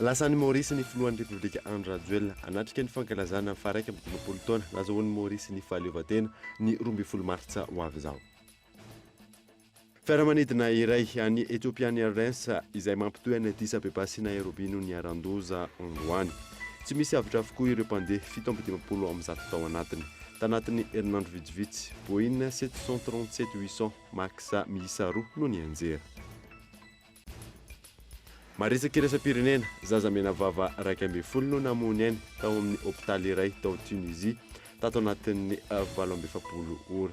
Lasa any Maorisy ny filohan'ny Repoblika Andry Rajoelina, hanatrika ny fankalazana ny faharaika amby dimampolo taona nazahoan'i Maorisy ny fahaleovantena, ny roa ambin'ny folo martsa ho avy izao. Fiaramanidina iray an'ny Ethiopian Airlines izay mampitohy an'i Addis Abeba sy Nairobi no niharan-doza androany. Tsy misy avotra avokoa ireo mpandeha fito amby dimampolo amin'ny zato tao anatiny. Tanatin'ny herinandro vitsivitsy, Boeing sept cent trente-sept huit cent Max miisa roa no nianjera. Marisaka iraisam-pirenena, zaza menavava iraika ambin'ny folo no namoha ny ainy tao amin'ny hopitaly iray tao Tunisie tato anatin'ny valo amby efapolo ora.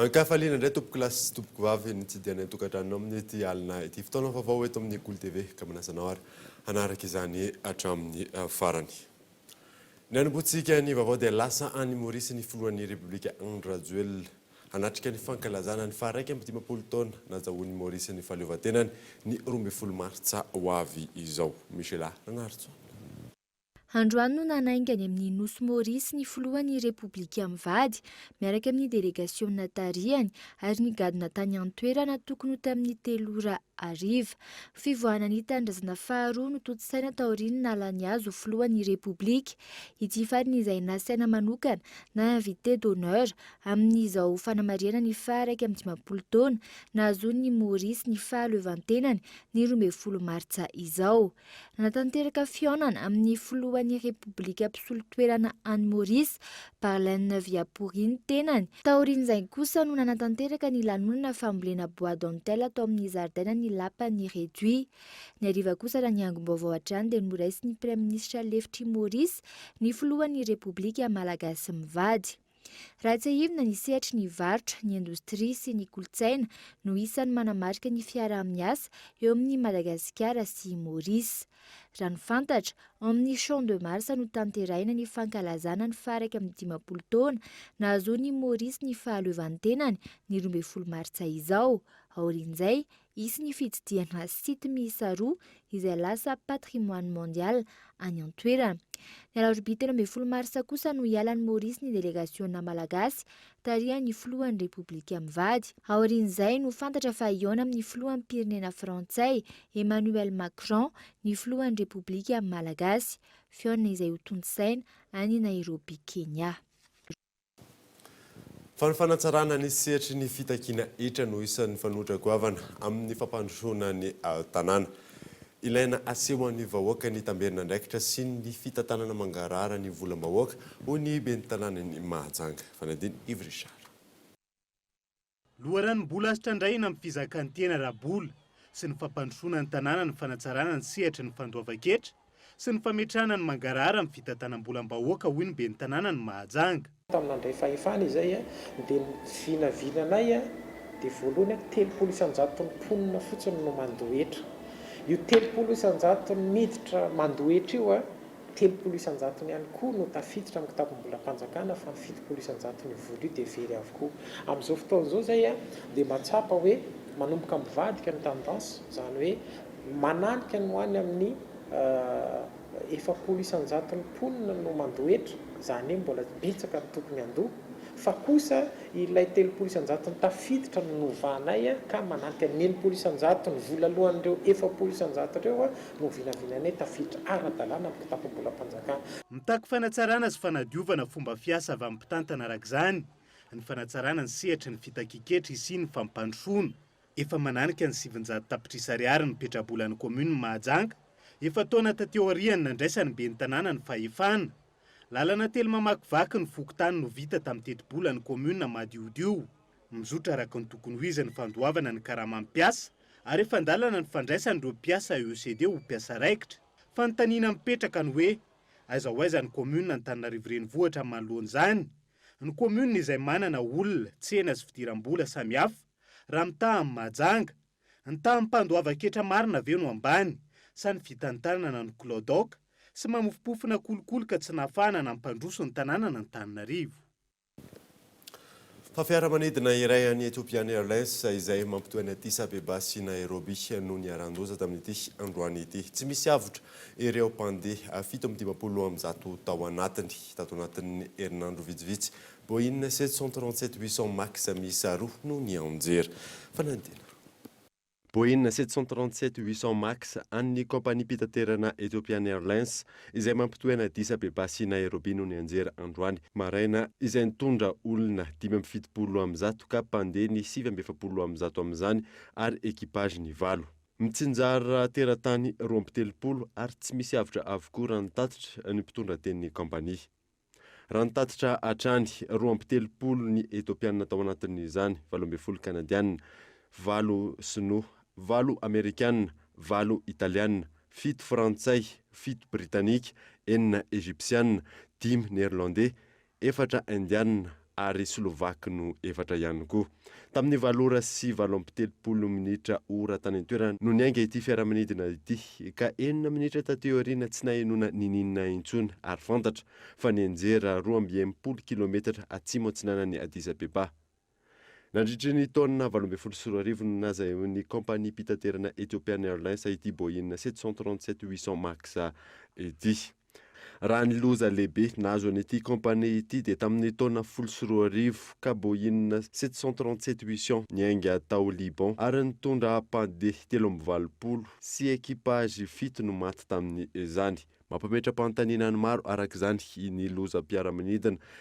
Ankafaliana indray tompokolahy sy tompokovavy ny tsidihanay an-tokantranonao amin'ity alina ity. Fotoana vaovao eto amin'ny Kolo TV ka manasa anao ary hanaraka izany hatramin'ny farany. Ny hanomboantsika ny vaovao dia lasa any Maurice ny filohan'ny Repoblika Andry Rajoelina hanatrika ny fankalazana ny faha iraika amby dimampolo taona nazahoan'i Maurice ny fahaleovantenany ny roa ambin'ny folo martsa ho avy izao. Michela Ranarison. Androany no nanainga any amin'ny Nosy Maurice ny filohan'ny Repoblika mivady, miaraka amin'ny delegasiona tarihany ary ny gadona tany an-toerana tokony ho tamin'ny telo ora hariva. Fivoahana ny tanindrazana faharoa notontosaina taorian'ny nahalany azy ho filohan'ny Repoblika ity farany izay nasaina manokana na invité d'honneur amin'izao fanamarihana ny faha iraika amby dimampolo taona nahazoan'i Maurice ny fahaleovantenany ny roa ambin'ny folo martsa izao. Nanatanteraka fihaonana amin'ny filohan'ny Repoblika mpisolo toerana any Maurice, Barlaine Viapouri ny tenany. Taorian'izay kosa no nanatanteraka ny lanonana fambolena bois dentelle tao amin'ny zaridainan'ny lapan'i Réduit. Ny hariva kosa raha ny angom-baovao hatrany dia noraisin'ny Praiminisitra lefitr'i Maurice ny filohan'ny Repoblika Malagasy mivady. Raha tsiahivina ny sehatry ny varotra, ny indostria sy ny kolontsaina no isan'ny manamarika ny fiaraha-miasa eo amin'i Madagasikara sy i Maorisy. Raha ny fantatra, ao amin'ny Champ de Mars no tanterahina ny fankalazana ny faha iraika amby dimampolo taona nahazoan'i Maorisy ny fahaleovantenany ny roa ambin'ny folo martsa izao. Aorian'izay, Hisy ny fitsidiana site miisa roa izay lasa patrimoine mondial any an-toerana. Ny alarobia telo ambin'ny folo marsa kosa no hiala any Maorisy ny delegasiona malagasy tarihan'ny filohan'ny Repoblika mivady. Aorian'izay no fantatra fa hihaona amin'ny filoham-pirenena frantsay Emmanuel Macron ny filohan'ny Repoblika malagasy. Fihaonana izay hotontosaina any Nairobi, Kenya. Fa ny fanatsarana ny sehatry ny fitakiana hetra no isan'ny fanoitra goavana amin'ny fampandrosoana ny tanàna. Ilaina asehon'ny vahoaka ny tamberin'andraikitra sy ny fitantanana mangarahara ny volam-bahoaka, hoy ny ben'ny tanànan'i Mahajanga, Fanadin'i Yves Richard. Loharanom-bola sitrandrahina amin'ny fizakan-tena ara-bola sy ny fampandrosoana ny tanàna ny fanatsarana ny sehatry ny fandoavan-ketra sy ny fametrahana ny mangarahara amin'ny fitantanam-bolam-bahoaka, hoy ny ben'ny tanànan'i Mahajanga. Tamin'ny nandray fahefana izay dia ny vinavinanay dia voalohany telopolo isan-jaton'ny mponina fotsiny no mandoa hetra. Io telopolo isan-jaton'ny miditra mandoa hetra io Telopolo isan-jatony ihany koa no tafiditra amin'ny kitapom-bolam-panjakana fa ny fitopolo isan-jatony voaloha dia very avokoa. Amin'izao fotoana izao izay dia mba tsapa hoe manomboka mivadika ny tendance, izany hoe mananika ny ho any amin'ny efapolo isan-jaton'ny mponina no mandohetra, izany hoe mbola betsaka ny tokony handoa, fa kosa ilay telopolo isan-jatony tafiditra no novahanay ka mananika ny enimpolo isan-jatony volalohan'ireo efapolo isan-jato ireo no vinavinanay tafiditra ara-dalàna amin'ny kitapom-bolam-panjakana. Mitaky fanatsarana sy fanadiovana fomba fiasa avy amin'ny mpitantana araka izany ny fanatsarana ny sehatry ny fitakian-ketra hisian'ny fampandrosoana. Efa mananika ny sivinjato tapitrisa ariary ny petrabolan'ny kaominin'i Mahajanga, efa-taona taty aorian'ny nandraisan'ny ben'ny tanàna ny fahefana. Lalana telo mamakivaky ny fokontany no vita tamin'ny tetibolan'ny kaominina madiodio. Mizotra araka ny tokony ho izy ny fandoavana ny karaman'ny mpiasa ary efa an-dalana ny fandraisana ireo mpiasa EECD ho mpiasa raikitra. Fanontaniana mipetraka ny hoe, aiza ho aiza ny kaominina Antananarivo Renivohitra manoloana izany? Ny kaominina izay manana olona, tsena sy fidiram-bola samihafa raha mitaha amin'i Mahajanga? Ny taham-pandoavan-ketra marina ve no ambany sa ny fitantanana no kilaodaoka sy mamofompofona kolikoly ka tsy nahafahana nampandroso ny tanànan'Antananarivo? Fa fiaramanidina iray an'ny Ethiopian Airlines izay mampitohy an'i Addis Abeba sy Nairobi no niharan-doza tamin'ity androany ity. Tsy misy avotra ireo mpandeha fito amby dimampolo amby zato tao anatiny. Tato anatin'ny herinandro vitsivitsy, Boeing sept cent trente-sept huit cent max miisa roa no nianjera. Fanadihadiana. Boeing sept cent trente sept huit cents max an'ny kaompaniam-pitaterana Ethiopian Airlines izay mampitohy an'i Addis Abeba sy Nairobi no nianjera androany maraina izay nitondra olona dimy amby fitopolo amby zato ka mpandeha ny sivy amby efapolo amby zato amin'izany ary equipage ny valo mitsinjara teratany roa amby telopolo ary tsy misy avotra avokoa raha ny tatitra ny mpitondra tenin'ny kaompania. Raha ny tatitra hatrany, roa amby telopolo ny Etopiana tao anatin'izany, valo ambin'ny folo Kanadiana, valo Sinoa, valo Amerikana, valo Italiana, fito Frantsay, fito Britanika, enina Ejipsiana, dimy Neerlandey, efatra Indiana, ary Slovaque no efatra ihany koa. Tamin'ny valo ora sy valo amby telopolo minitra ora tany an-toerana no niainga ity fiaramanidina ity, ka enina minitra taty aoriana tsy nahenoana n'inon'inona intsony ary fantatra fa nianjera roa amby enimpolo kilometatra atsimo-atsinanan'i Addis Abeba. Nandritry ny taona valo ambin'ny folo sy roa arivo no nazahoan'ny kaompaniam-pitaterana Ethiopian Airlines ity Boeing sept cent trente-sept huit cents max ity. Raha ny loza lehibe nahazo an'ity compagnie ity dia tamin'ny taona folo sy roa arivo ka Boeing sept cent trente sept huit cent niainga tao Liban ary nitondra mpandeha telo amby valopolo sy equipage fito no maty tamin'izany. Mampametra-panontaniana ny maro araka izany ny lozam-piaramanidina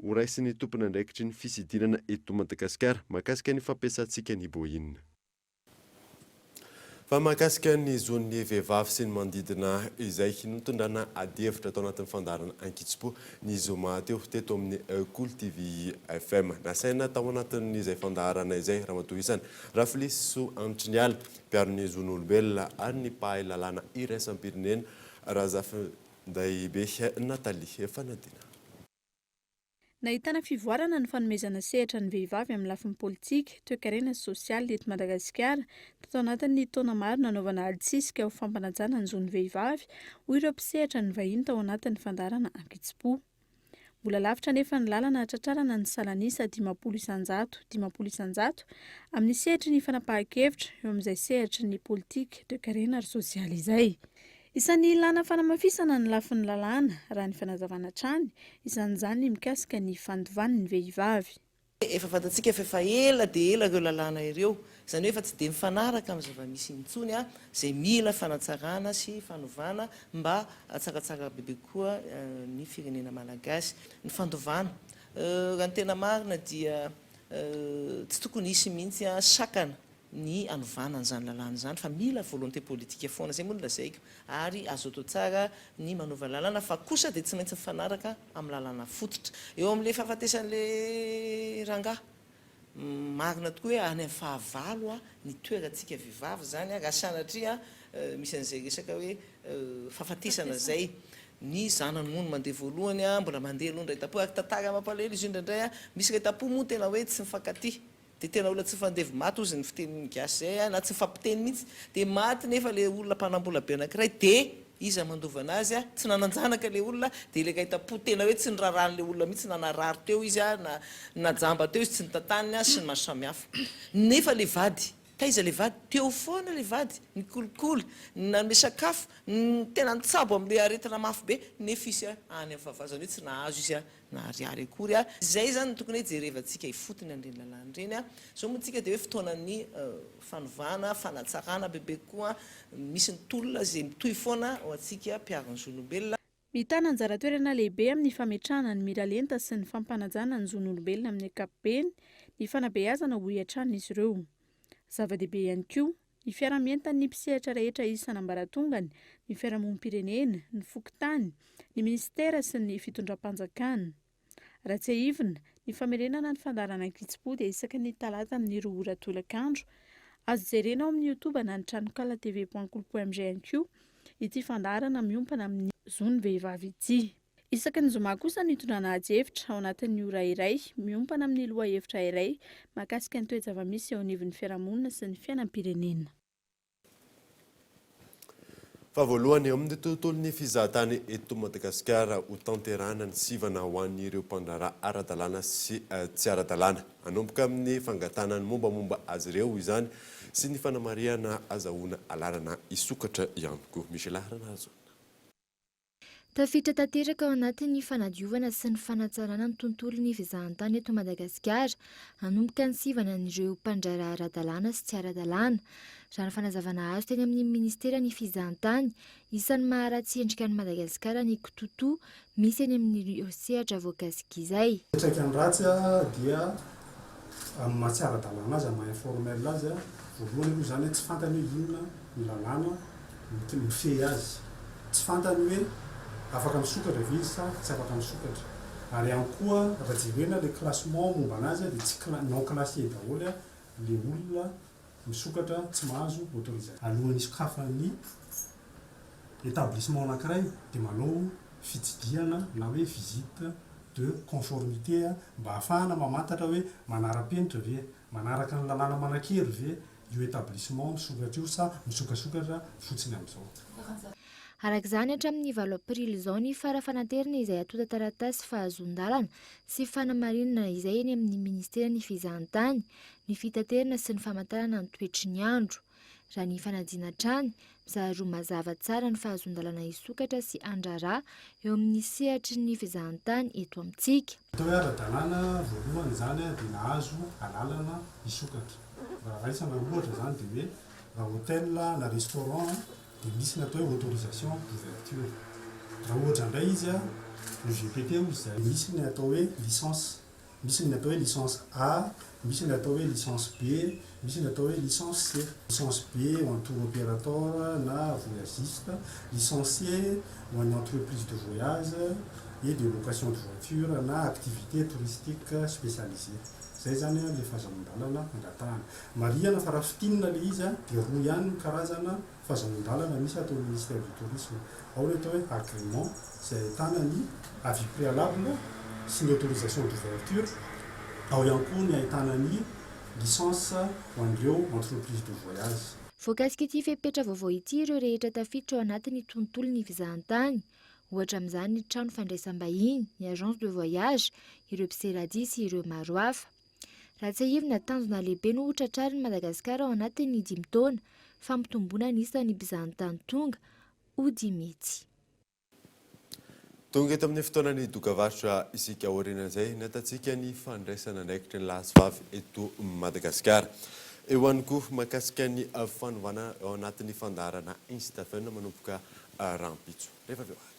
Ho raisin'ny tompon'andraikitry ny fisidinana eto Madagasikara mahakasika ny fampiasantsika ny Boeing. Fa mahakasika ny zon'ny vehivavy sy ny manodidina izay notondrana adihevitra tao anatin'ny fandaharana Ankitso-po ny zoma teo teto amin'ny Kolo TV FM. Nasaina tao anatin'izay fandaharana izay Ramatoa Isany Rafilisoa Anitriniala, mpiaro ny zon'olombelona ary ny mpahay lalàna iraisam-pirenena Razafindahibe Nathalie Fanadinana. Nahitana fivoarana ny fanomezana sehatra ny vehivavy amin'ny lafiny politika, toekarena sy sosialy eto Madagasikara, tato anatin'ny taona maro nanaovana adisisika ho fampanajana ny zon'ny vehivavy, hoy ireo mpisehatra ny vahiny tao anatin'ny fandaharana Ankitsimpo. Mbola lavitra anefa ny lalana hahatratrarana ny salan'isa dimampolo isanjato, dimampolo isanjato, amin'ny sehatry ny fanapahan-kevitra, eo amin'izay sehatry ny politika, toekarena ary sosialy izay. Isan'ny ilàna fanamafisana ny lafiny lalàna, raha ny fanazavana hatrany, isan'izany ny mikasika ny fandovan'ny vehivavy. Efa fantatsika fa efa ela dia ela ireo lalàna ireo, izany hoe efa tsy dia mifanaraka amin'ny zava-misy intsony, izay mila fanatsarana sy fanovana mba hatsaratsara bebe kokoa ny firenena malagasy. Ny fandovana, raha ny tena marina dia tsy tokony hisy mihitsy sakana ny hanovana an'izany lalàna izany fa mila volonté politique foana, izay moa no lazaiko, ary azo atao tsara ny manova lalàna fa kosa dia tsy maintsy mifanaraka amin'ny lalàna fototra. Eo amin'ilay fahafatesan'ilay rangahy, marina tokoa hoe any amin'ny fahavalo ny toerantsika vehivavy izany raha sanatria misy an'izay resaka hoe fahafatesana izay, ny zanany moa no mandeha voalohany, mbola mandeha aloha ny rahetam-po, ary tantara mampalahelo izy io indraindray, misy rahetam-po moa tena hoe tsy mifankatia. Dia tena olona tsy fandevo maty ozy ny fitenin'ny gasy zay a, na tsy mifampiteny mihitsy, dia maty nefa le olona mpanambola be anakiray dia iza mandova anazy a, tsy nanan-janaka le olona dia ilay kaitapo tena hoe tsy nirarahan'le olona mihitsy na narary teo izy a, na najamba teo izy tsy notantaniny a, sy ny maro samihafa. Nefa le vady, taiza le vady, teo foana le vady, nikolikoly, nanome sakafo, tena nitsabo amle aretina mafy be, nefa izy a any am fahavazany hoe tsy nahazo izy a, na ariary akory a! Izay izany no tokony hoe jerevantsika ifotony an'ireny lalàna ireny a! Izao moa tsika dia hoe fotoanan'ny fanovana, fanatsarana bebe kokoa, misy ny tolona izay mitohy foana ho antsika mpiaro ny zon'olombelona. Mitana anjara toerana lehibe amin'ny fametrahana ny miralenta sy ny fampanajana ny zon'olombelona amin'ny ankapobeny ny fanabeazana hoy hatrany izy ireo. Zava-dehibe ihany koa, ny fiaraha-mientan'ny mpisehatra rehetra isan'ambaratongany, ny fiarahamonim-pirenena, ny fokontany, ny minisitera sy ny fitondram-panjakana. Raha tsiahivina, ny famerenana ny fandaharana Ankitsipo dia isaky ny talata amin'ny roa ora tolakandro. Azo jerena ao amin'ny Youtube na ny tranonkala tvpointcool.mg ihany koa ity fandaharana miompana amin'ny zon'ny vehivavy ity. Isaky ny zoma kosa no itondrana adihevitra ao anatin'ny ora iray, miompana amin'ny lohahevitra iray mahakasika ny toe-java-misy eo anivon'ny fiarahamonina sy ny fiainam-pirenena. Fa voalohany eo amin'ny tontolon'ny fizahantany eto Madagasikara ho tanterahana ny sivana ho an'ireo mpandraharaha ara-dalàna sy tsy ara-dalàna. Hanomboka amin'ny fangatahana ny mombamomba azy ireo izany sy ny fanamarihana azahoana alalana hisokatra ihany koa. Michela Haranahazoana. Tafiditra tanteraka ao anatin'ny fanadiovana sy ny fanatsarana ny tontolon'ny fizahantany eto Madagasikara, hanomboka ny sivana an'ireo mpandraharaha ara-dalàna sy tsy ara-dalàna. Raha ny fanazavana azo teny amin'ny minisiteran'ny fizahantany, isan'ny maharatsy endrika an'i Madagasikara ny kitoatoa misy eny amin'ireo sehatra voakasiky izay. Fiantraikany ratsy dia amin'ny maha tsy ara-dalàna azy, amin'ny maha informel azy, voalohany aloha izany hoe tsy fantany hoe inona ny lalàna mifehy azy, tsy fantany hoe afaka misokatra ve izy sa tsy afaka misokatra, ary ihany koa raha jerena ilay classement momba an'azy dia tsy cla non classier daholo ilay olona. misokatra tsy mahazo autorisation. Alohan'ny hisokafan'ny établissement anankiray dia manao fitsidihana na hoe visite de conformité mba ahafahana mamantatra hoe manara-penitra ve, manaraka ny lalàna manan-kery ve io établissement misokatra io sa misokasokatra fotsiny amin'izao. Araka izany, hatramin'ny valo aprily izao ny fara fanaterana izay antontan-taratasy fahazoan-dalana sy fanamarinana izay eny amin'ny Ministeran'ny Fizahantany. ny fitaterana sy ny famantarana ny toetry ny andro. Raha ny fanadina hatrany, mizara roa mazava tsara ny fahazoan-dalana hisokatra sy handraharaha eo amin'ny sehatry ny fizahantany eto amintsika. Atao hoe ara-dalàna voalohany izany dia nahazo alalana hisokatra. Raha raisina ohatra izany dia hoe raha hotel na restaurant dia misy ny atao hoe autorisation d'ouverture. Raha ohatra indray izy, UGPT hozy izay, misy ny atao hoe licence Misy ny atao hoe licence A, misy ny atao hoe licence B, misy ny atao hoe licence C. Licence B ho an'ny tour operator na voyagiste, licence C ho an'ny entreprise de voyage et de location de voiture na activité touristique spécialisée. Izay izany ilay fahazahoan-dalana angatahana. Marihana fa raha fintinina ilay izy dia roa ihany ny karazana fahazonandalana misy ato amin'ny Ministère du Tourisme. Ao ny atao hoe agrément izay ahitana ny avis préalable sy ny autorisation d'ouverture. Ao ihany koa ny ahitana ny licence ho an'ireo entreprises de voyage. Voakasik'ity fepetra vaovao ity ireo rehetra tafiditra ao anatin'ny tontolon'ny fizahantany, ohatra amin'izany ny trano fandraisam-bahiny, ny agence de voyage, ireo mpisera dihy sy ireo maro hafa. Raha tsiahivina, tanjona lehibe no ho tratrarin'i Madagasikara ao anatin'ny dimy taona, fampitomboana ny isan'ny mpizahatany tonga ho dimy hetsy. Tonga eto amin'ny fotoana nidoka varotra isika aorianan'izay nahatatsika ny fandraisana andraikitry ny lahy sy vavy eto Madagasikara. Eo ihany koa mahakasika ny fanovana ao anatin'ny fandaharana Instafem manomboka rahampitso. Rehefa avy eo ary.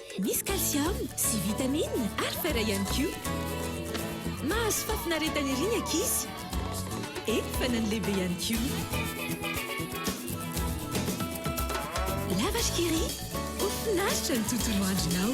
Misy calcium sy vitamine ary fer ihany koa. Mahazo fahafinaretana ery ny ankizy. Eny fa na ny lehibe ihany koa. La vache qui rit, ho finaritra ny tontolo andronao.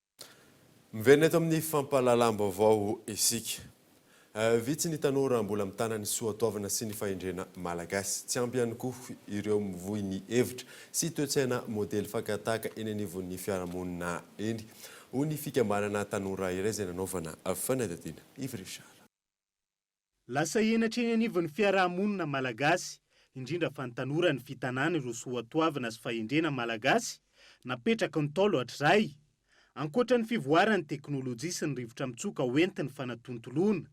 Miverina eto amin'ny fampahalalam-baovao isika. Vitsy ny tanora mbola mitana ny soatoavina sy ny fahendrena malagasy. Tsy ampy ihany koa ireo mivoy ny hevitra sy toe-tsaina modely fakan-tahaka eny anivon'ny fiarahamonina eny, hoy ny fikambanana tanora iray izay nanaovana fanadihadiana. Yves Richard. Lasa henatra eny anivon'ny fiaraha-monina malagasy, indrindra fa ny tanora ny fitanana ireo soatoavina sy fahendrena malagasy napetraky ny Ntaolo hatrizay. Ankoatra ny fivoaran'ny teknolojia sy ny rivotra mitsoka ho entin'ny fanatontoloana,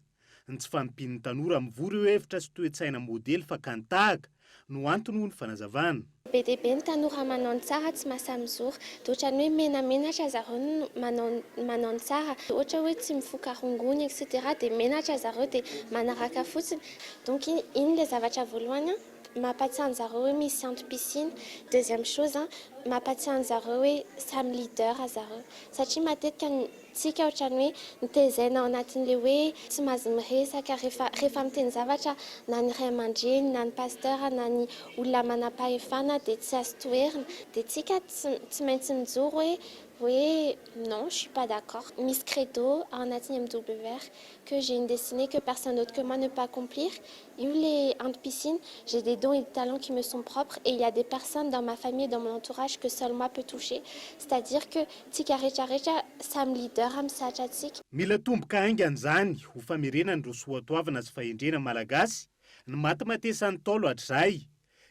ny tsy fahampian'ny tanora mivory eo hevitra sy toe-tsaina modely fakàn-tahaka, no antony hoy ny fanazavana. Be dia be ny tanora manao ny tsara tsy mahasahy mizora. Dia ohatran'ny hoe menamenatra zareo ny manao ny manao ny tsara. Ohatra hoe tsy mifoka rongony etc dia menatra zareo dia manaraka fotsiny. Donc iny ilay zavatra voalohany an, mampatsiahy an'zareo hoe misy antom-pisiana. Deuxième chose an, mampatsiahy an'zareo hoe samy leader zareo. Satria matetika ny Tsika ohatrany hoe nitezaina ao anatin'ilay hoe tsy mazy miresaka rehefa rehefa miteny zavatra na ny ray aman-dreny na ny pasteur na ny olona manam-pahefana dia tsy azo toherina dia tsika tsy tsy maintsy mijoro hoe hoe non je suis pas d'accord misy credo ao anatin'ny MWR que j'ai une destinée que personne d'autre que moi ne peut accomplir Io le anti piscine, j'ai des dons et des talents qui me sont propres et il ya des personnes dans ma famille et dans mon entourage que seul moi peut toucher, c'est à dire que tsika rehetra rehetra samy leader am sehatra tsika. Mila tomboka haingana zany ho famerenana ireo soatoavina sy fahendrena malagasy ny matimatesany Ntaolo hatrizay.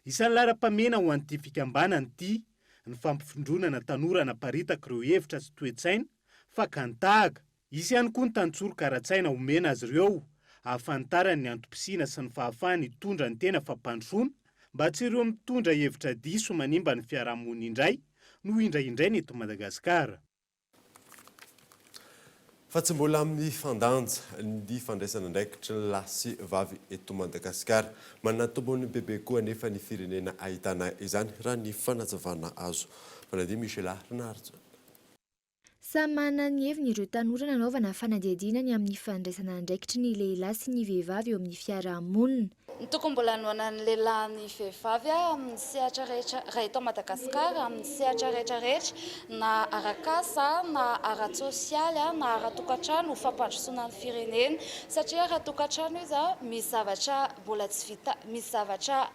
Isan'ny laharam-pamehana ho an'ity fikambanana ity ny fampifondronana tanora hanaparitaka ireo hevitra sy toe-tsaina fakany tahaka. Hisy ihany koa ny tantsoroka ara-tsaina omena azy ireo hahafantarany ny antom-pisiana sy ny fahafahany hitondra ny tena fampandrosoana mba tsy ireo mitondra hevitra diso manimba ny fiarahamonina indray no indraindraina eto Madagasikara. Fa tsy mbola amin'ny fandanja ny fandraisana andraikitry ny lahy sy vavy eto Madagasikara. Manana tombony bebe koa anefa ny firenena ahitana izany raha ny fanazavana azo. Manadio Michela Rinaharitsoa. Samy manana ny heviny ireo tanora nanaovana fanadihadiana ny amin'ny fandraisana andraikitry ny lehilahy sy ny vehivavy eo amin'ny fiarahamonina. Ny tokony mbola hanohanan'ny lehilahy ny vehivavy amin'ny sehatra rehetra raha eto Madagasikara, amin'ny sehatra rehetra rehetra, na ara-kasa, na ara-tsosialy, na ara-tokantrano, ho fampandrosoana ny firenena. Satria ara-tokantrano izy, misy zavatra mbola tsy vita, misy zavatra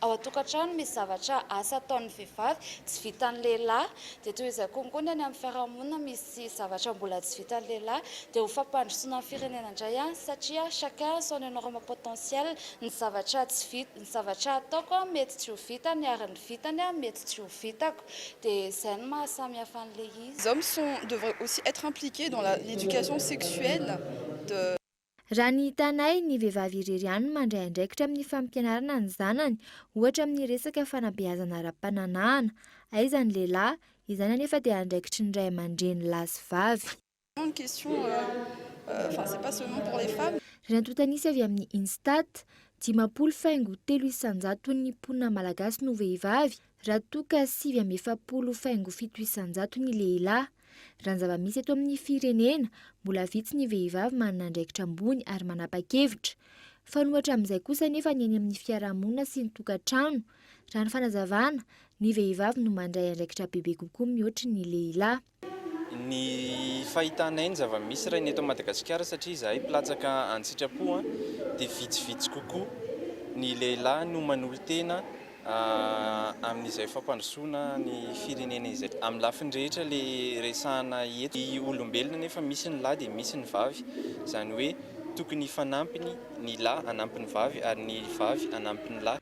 Ao an-tokantrano misy zavatra asa ataon'ny vehivavy tsy vitan'ny lehilahy dia toy izay koa koa ny any amin'ny fiarahamonina misy zavatra mbola tsy vitan'ny lehilahy dia ho fampandrosoana ny firenena indray an satria chacun a son enorme potentiel ny zavatra tsy vita ny zavatra ataoko an mety tsy ho vitany ary ny vitany an mety tsy ho vitako dia izay no maha samy hafa an'ilay izy. Les hommes sont devraient aussi être impliqués dans la l'éducation sexuelle de. Raha ny hitanay, ny vehivavy irery ihany no mandray andraikitra amin'ny fampianarana ny zanany, ohatra amin'ny resaka fanabeazana ara-pananahana. Aiza ny lehilahy? Izany anefa dia andraikitry ny ray aman-dreny lahy sy vavy. Rantota nisy avy amin'ny Instat, Dimampolo faingo telo isan-jaton'ny mponina malagasy no vehivavy, Raha toa ka sivy amby efapolo faingo fito isan-jato ny lehilahy, raha ny zava-misy eto amin'ny firenena, mbola vitsy ny vehivavy manana andraikitra ambony ary manapa-kevitra. Fanohatra amin'izay kosa anefa ny eny amin'ny fiarahamonina sy ny tokantrano. Raha ny fanazavana, ny vehivavy no mandray andraikitra bebe kokoa mihoatry ny lehilahy. Ny fahitanay ny zava-misy raha ny eto Madagasikara satria izahay mpilatsaka an-tsitrapo dia vitsivitsy kokoa ny lehilahy no manolo-tena amin'izay fampandrosoana ny firenena izay. Amin'ny lafiny rehetra ilay resahana eto. Ny olombelona anefa misy ny lahy dia misy ny vavy, izany hoe tokony hifanampy ny lahy hanampy ny vavy ary ny vavy hanampy ny lahy.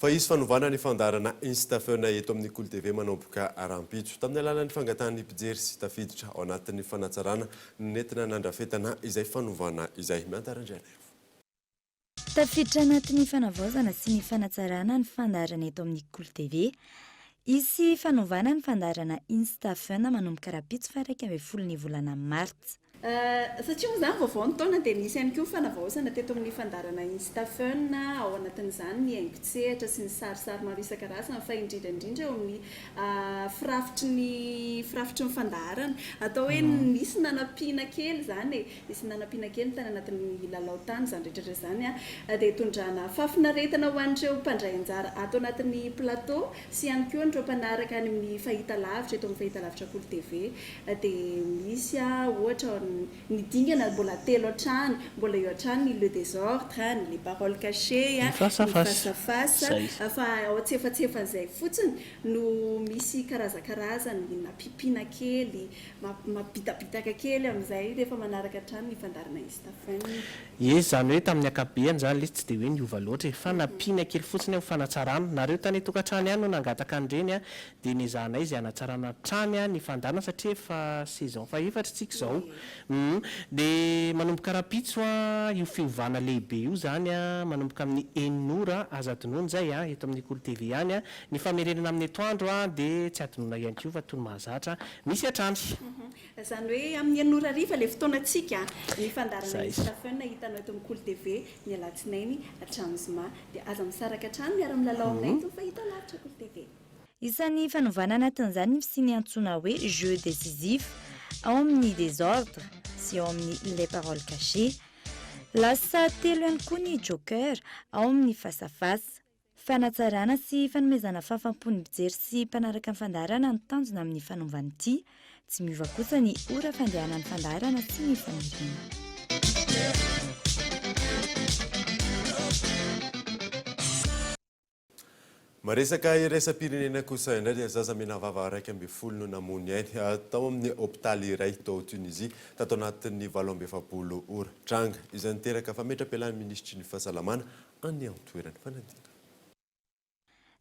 Fa hisy fanovana ny fandaharana Instafeona eto amin'ny Kolo TV manomboka rahampitso, tamin'ny alalan'ny fangatahan'ny mpijery sy tafiditra ao anatin'ny fanatsarana no nentina nandrafetana izay fanovana izay. Miantara Andrianaivo. Tafiditra anatin'ny fanavaozana sy ny fanatsarana ny fandaharana eto amin'ny Kolo TV. Hisy fanovana ny fandaharana Insta Fun manomboka rahampitso faha iraika ambin'ny folo ny volana martsa. Satria moa izany vaovao ny taona dia nisy ihany koa ny fanavaozana teto amin'ny fandaharana Insta Fun ao anatin'izany ny haingon-tsehatra sy ny sarisary maro isan-karazany fa indrindra indrindra eo amin'ny firafitry ny firafitry ny fandaharana. Atao hoe nisy nanampiana kely izany e. Nisy nanampiana kely tany anatin'ny lalao tany izany rehetra rehetra izany dia hitondrana fahafinaretana ho an'ireo mpandray anjara ato anatin'ny plateau sy ihany koa an'ireo mpanaraka any amin'ny fahitalavitra eto amin'ny fahitalavitra Kolo TV dia misy ohatra ny dingana mbola telo hatrany mbola eo hatrany ny le desordre ny les paroles cachées ny face à face izay fa ao an-tsefatsefan'izay fotsiny no misy karazakarazany nampiampiana kely Mabitabitaka kely amin'izay rehefa manaraka hatrany ny fandaharana izy tafony. Ie izany hoe tamin'ny ankapobeany izany lesy tsy dia hoe niova loatra e! Fa nampiana kely fotsiny aho ho fanatsarana. Nareo tany an-tokantrano ihany no nangataka an'ireny a! Dia nezahanay izay hanatsarana hatrany ny fandaharana satria efa saison fahefatra isika izao. Humm. Dia manomboka rahampitso a! Io fiovana lehibe io izany a! Manomboka amin'ny enina ora aza adinoina izay a! Eto amin'ny Kolo TV ihany a! Ny famerenana amin'ny etoandro dia tsy adinoina ihany koa fa toy ny mahazatra misy hatrany. Izany hoe amin'ny enina ora hariva ilay fotoanantsika. Ny fandaharana misy Stephen hitanao eto amin'ny Kolo TV ny alatsinainy hatramin'ny zoma. Dia aza misaraka hatrany, miara-milalao aminay eto fa hita lavitra Kolo TV. Isan'ny fanovana anatin'izany ny fisian'ny antsoina hoe jeu décisif ao amin'ny Désordre sy ao amin'ny Les Paroles Cachées. Lasa telo ihany koa ny Joker ao amin'ny Face à Face. Fanatsarana sy fanomezana fahafam-po ny mpijery sy mpanaraka ny fandaharana no tanjona amin'ny fanaovana ity. Tsy miova kosa ny ora fandehanan'ny fandaharana sy ny faniriana. Maresaka iraisam-pirenena kosa indray dia zaza menavava iraika ambin'ny folo no namoy ainy tao amin'ny hopitaly iray tao Tunisie tato anatin'ny valo amby efapolo ora. Tranga izay niteraka fametra-pialan'ny minisitry ny fahasalamana any amin'ny toeran'ny fanadinana.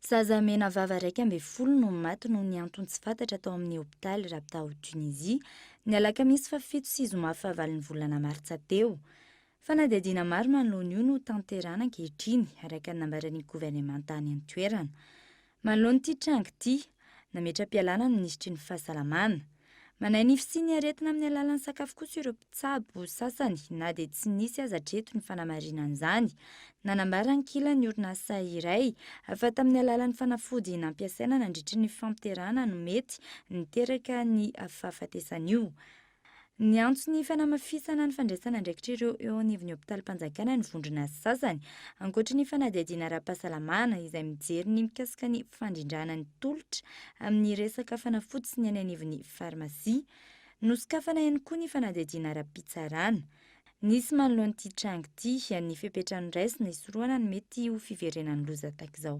Zaza menavava iraika ambin'ny folo no maty noho ny antony tsy fantatra tao amin'ny hopitaly Rabta ao Tunisie, ny alakamisy fahafito sy zoma fahavalon'ny volana martsa teo. Fanadihadiana maro manoloana io no tanterahana ankehitriny, araka ny nambaran'ny governemanta any an-toerana. Manoloana ity tranga ity, nametra-pialana ny minisitry ny Fahasalamana. Manahy ny fisian'ny aretina amin'ny alalan'ny sakafo kosa ireo mpitsabo sasany na dia tsy nisy aza hatreto ny fanamarinan'izany. Nanambara ankilany ny orinasa iray fa tamin'ny alalan'ny fanafody nampiasaina nandritry ny fampiterahana no mety niteraka ny fahafatesan'io Niantso ny fanamafisana ny fandraisana andraikitra ireo eo anivon'ny hopitalim-panjakana ny vondrona sasany, ankoatra ny fanadihadiana ara-pahasalamana izay mijery ny mikasika ny fandrindrana ny tolotra amin'ny resaka fanafody sy ny any anivon'ny farmasia. Nosokafana ihany koa ny fanadihadiana ara-pitsarana. Nisy manoloana ity tranga ity ny fepetra noraisina hisorohana ny mety ho fiverenan'ny loza tahaka izao.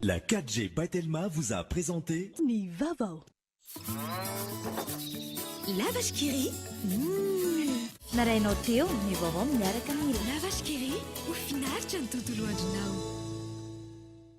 La 4G by Telma vous a présenté Ny Vavao. La vache qui rit. Mmm. Marainao teo ny vaovao miaraka amin'ny La vache qui rit ho finaritra ny tontolo andronao.